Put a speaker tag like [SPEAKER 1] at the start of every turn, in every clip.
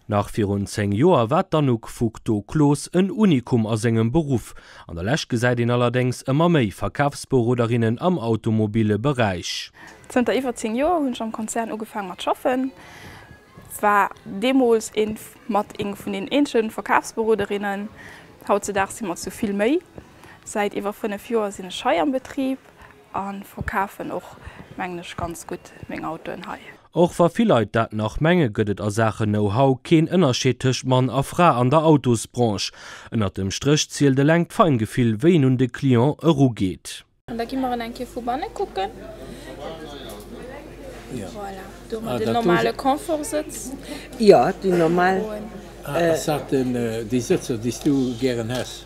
[SPEAKER 1] Nach virun 10 Joer war d'Anouk Foucteau-Close en Unikum a sengem Beruff. An der Lescht gesäit een allerdéngs ëmmer méi Verkafsberoderinnen am automobille Beräich. Zënter iwwer 10 Joer hunn ech am Konzern ugefaang mat schaffen. War deemols een mat eng vun den eenzegen Verkaafsberoderinnen. Hautzedaag sinn mer zu vill méi. Säit iwwer 5 Joer sinn ech hei am Betrieb an verkaafen och mengen ech ganz gutt meng Autoen hei. Och wa vill Leit dat nach mengen, gëtt et a Saachen Know-How keen Ënnerscheed tëscht Mann a Fra an der Autosbranche. Ënnert dem Stréch zielt eleng d'Feingefill wéi een un de Client erugeet. Da gi mer en eng Kéier vu banne kucken. Voilà, do hu mer den normale Confortsëtz. Jo, déi normal. Ass dat déi Sëtzer, déi s du gären häss?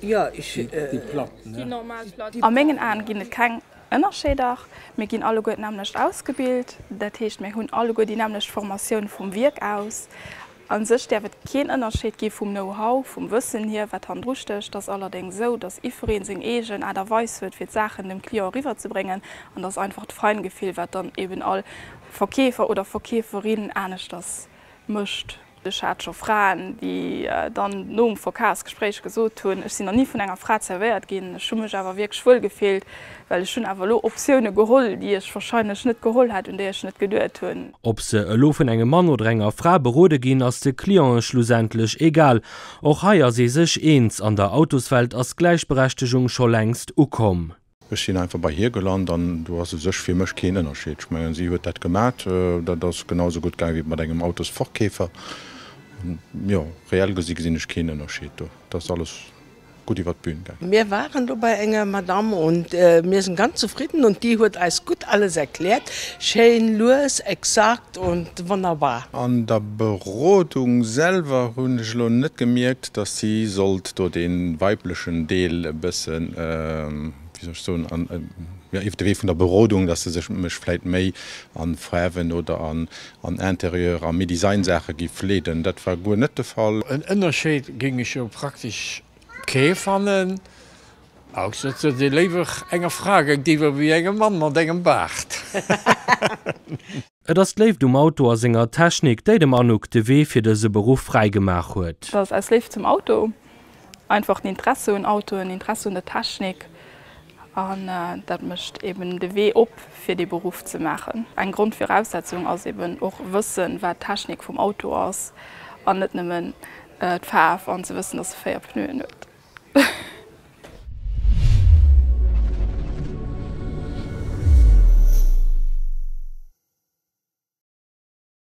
[SPEAKER 1] Jo, ech. Déi platt, ne? Déi normal platt. A mengen Aen ginn et keng Ënnerscheeder. Mir ginn alleguer d'nämmlecht ausgebilt. Dat heescht, mir hunn alleguer déi nämmlecht Formatioun vum Wierk aus. A sech däerf et keen Ënnerscheed gi vum Know-how, vum Wëssen hier, wat hannendru stécht. Et ass allerdéngs esou, dass iwwereen seng eegen Aart a Weis huet, fir d'Saachen dem Client eriwwerzebréngen. An dass einfach d'Feingefill, wat dann eben all Verkeefer oder Verkeeferin aneschters mécht. Ech hat scho Fraen, déi dann nom Verkafsgespréich gesot hunn, Ech sinn nach ni vun enger Fra zervéiert ginn, ech hu mech awer wierklech wuel gefillt. Well ech hunn awer elo Optioune geholl, déi ech wahrscheinlech net geholl hätt, un déi ech net geduet hunn. Ob se elo vun engem Mann oder enger Fra berode ginn, ass de Clientë schlussendlech egal. Och hei ass ee sech eens, An der Autoswelt ass d'Gläichberechtegung scho längst ukomm. Ech sinn einfach bei hir gelant an do ass u sech fir mech keen Ënnerscheed. Ech mengen, si huet dat gemat, dat ass genau esou gutt gaange wéi mat engem Autosverkeefer. Jo, reell gesi gesinn ech keen Ënnerscheed do. Et ass alles. gutt iwwert d'Bühn gaang. Mir waren do bei enger Madame und mir sinn ganz zufridden und déi huet eis gutt alles erkläert, schéin, lues, exakt und wonnerbar. An der Berodung selwer hunn ech elo net gemierkt, dass si sollt do dee weiblechen Deel e bëssen, wéi soll ech soen, an, jo, iwwert de Wee vun der Berodung, dass se sech mech vläit méi an Faarwen oder an An Intérieur a méi Designsaache gi fleeden, dat war guer net de Fall. En Ënnerscheed géing ech jo praktesch kee fannen, ausser datt ee léiwer enger Fra géintiwwer ewéi engem Mann mat engem Baart. Et ass d'Léift um Auto a senger Technik, déi dem Anouk de Wee fir dëse Beruff fräi gemaach huet. Dat ass aus Léift zum Auto. Einfach den Interesse un Autoen, Interesse un der Technik an dat mécht eben de Wee op fir dee Beruff ze maachen. Eng Grondviraussetzung ass eben och wëssen wat d'Technik vum Auto ass an net nëmmen d'Faarf an ze wëssen dass e 4 Pneuen huet.